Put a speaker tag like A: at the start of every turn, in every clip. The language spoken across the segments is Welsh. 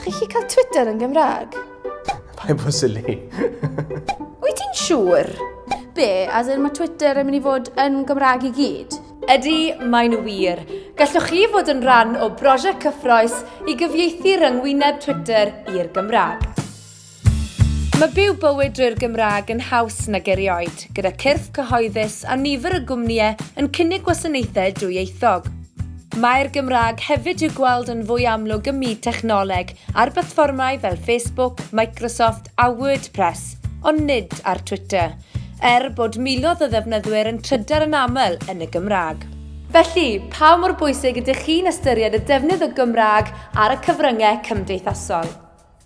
A: Chi'n gallu cael Twitter yn Gymraeg? Pai bod
B: sili.
A: Wyt ti'n siŵr? Be, as in mae Twitter yn mynd i fod yn Gymraeg i gyd? Ydy, mae'n
C: wir. Gallwch chi fod yn rhan o brosiect cyffroes i gyfieithu ryngwyneb Twitter i'r Gymraeg. Mae byw bywyd drwy'r Gymraeg yn haws nag erioed, gyda cyrff cyhoeddus a nifer o gwmnïau yn cynnig gwasanaethau dwyieithog. Mae'r Gymraeg hefyd i'w gweld yn fwy amlwg ym myd technoleg ar blatfformau fel Facebook, Microsoft a WordPress, ond nid ar Twitter, er bod miloedd o ddefnyddwyr yn trydar yn aml yn y Gymraeg. Felly, pa mor bwysig ydych chi'n ystyried y defnydd o Gymraeg ar y cyfryngau cymdeithasol?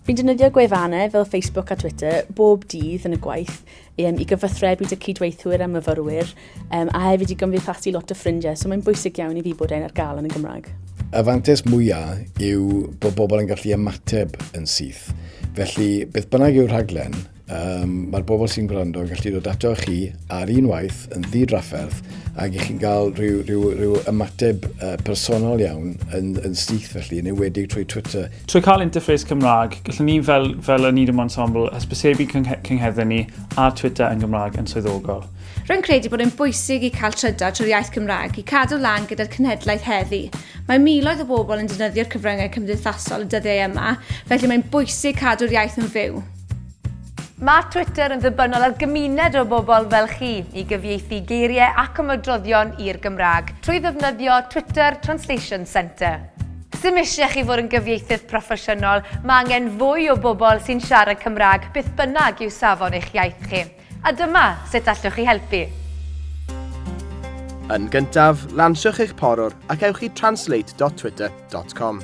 C: Fi'n defnyddio
D: gwefannau fel Facebook a Twitter bob dydd yn y gwaith um, i gyfathrebu dy cydweithwyr a myfyrwyr um, a hefyd i gymdeithasu lot o ffrindiau, so mae'n bwysig iawn i fi bod e'n ar gael yn y Gymraeg. Y fantes
E: mwyaf yw bod bobl yn gallu ymateb yn syth. Felly, beth bynnag yw'r rhaglen, Um, Mae'r bobl sy'n gwrando yn gallu dod ato chi ar un waith yn ddi-drafferth ac i chi'n cael rhyw, rhyw, rhyw ymateb uh, personol iawn yn, yn syth felly, yn ewedig trwy Twitter. Trwy cael interface
F: Cymraeg, gallwn ni fel, fel y Needham Ensemble hysbysebu cynghedden ni ar Twitter yn Gymraeg yn swyddogol. Rwy'n credu bod yn
G: bwysig i cael trydar trwy'r iaith Cymraeg i cadw lan gyda'r cynhedlaeth heddi. Mae miloedd o bobl yn defnyddio'r cyfryngau cymdeithasol y dyddiau yma, felly mae'n bwysig cadw'r iaith yn fyw. Mae
C: Twitter yn ddibynnol ar gymuned o bobl fel chi i gyfieithu geiriau ac ymadroddion i'r Gymraeg trwy ddefnyddio Twitter Translation Centre. Sdim eisiau chi fod yn gyfieithydd proffesiynol, mae angen fwy o bobl sy'n siarad Cymraeg beth bynnag yw safon eich iaith chi. A dyma sut allwch chi helpu.
B: Yn gyntaf, lansiwch eich porwr ac ewch i translate.twitter.com.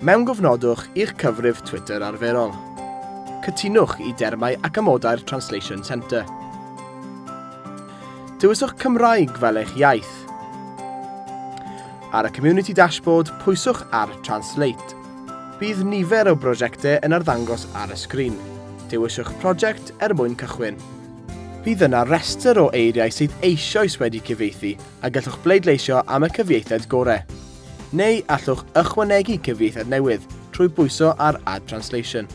B: Mewngofnodwch i'ch cyfrif Twitter arferol. Cytunwch i dermau ac amodau'r Translation Centre. Dewiswch Cymraeg fel eich iaith. Ar y Community Dashboard, pwyswch ar Translate. Bydd nifer o brosiectau yn arddangos ar y sgrin. Dewiswch prosiect er mwyn cychwyn. Bydd yna restr o eiriau sydd eisioes wedi cyfieithu a gallwch bleidleisio am y cyfieithiad gorau. Neu allwch ychwanegu cyfieithiad newydd trwy bwyso ar Add Translation.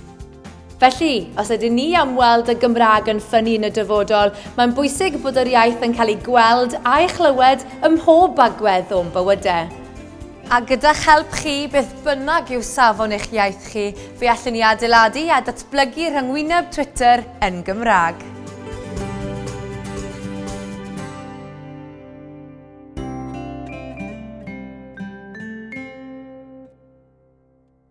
B: Felly,
C: os ydyn ni am weld y Gymraeg yn ffynnu yn y dyfodol, mae'n bwysig bod yr iaith yn cael ei gweld a'i chlywed ym mhob agwedd o'n bywydau. A gyda'ch help chi, beth bynnag yw safon eich iaith chi, fe allwn ni adeiladu a datblygu rhyngwyneb Twitter yn Gymraeg.